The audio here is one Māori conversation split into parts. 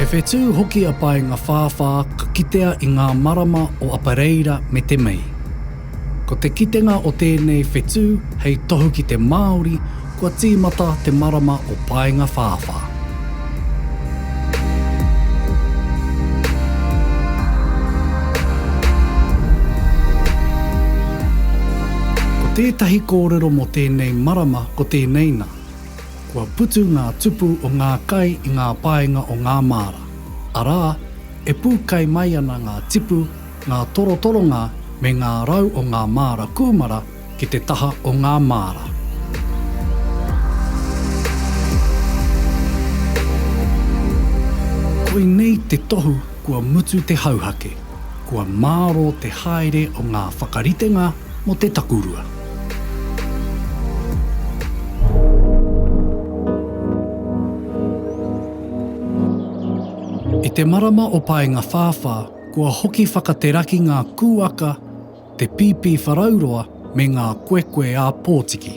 He whetū hoki a Paengawhāwhā ka kitea i ngā marama o Apareira me te Mei. Ko te kitenga o tēnei whetū hei tohu ki te Māori Kua tīmata te marama o Paengawhāwhā. Ko tētahi kōrero mō tēnei marama ko tēnei nā, kua putu ngā tupu o ngā kai i ngā paenga o ngā māra, arā, e pū kai mai ana ngā tipu, ngā torotoronga me ngā rau o ngā māra kūmara, ki te taha o ngā māra. Koinei te tohu kua mutu te hauhake, kua mārō te haere o ngā whakaritenga mō te takurua. I te marama o Paenga-whāwhā, kua hoki whakateraki ngā kūaka Te Pīpīwharauroa me ngā Koekoe ā Pōtiki.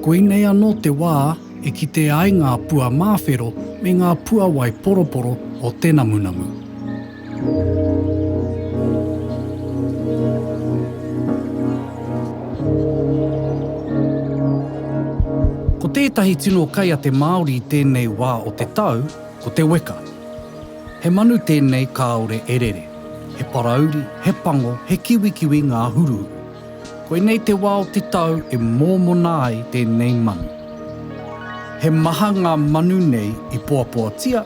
Koinei anō te wā e kitea ai ngā pua māwhero me ngā puawai poroporo o te namunamu. Ko tētahi tino kai a te Māori i tēnei wā o te tau, ko te weka. He manu tēnei kāore e rere. He parauri, he pango, he kiwikiwi ngā huruhuru. Koinei te wā o te tau e mōmona ai tēnei manu. He maha ngā manu nei i poapoatia,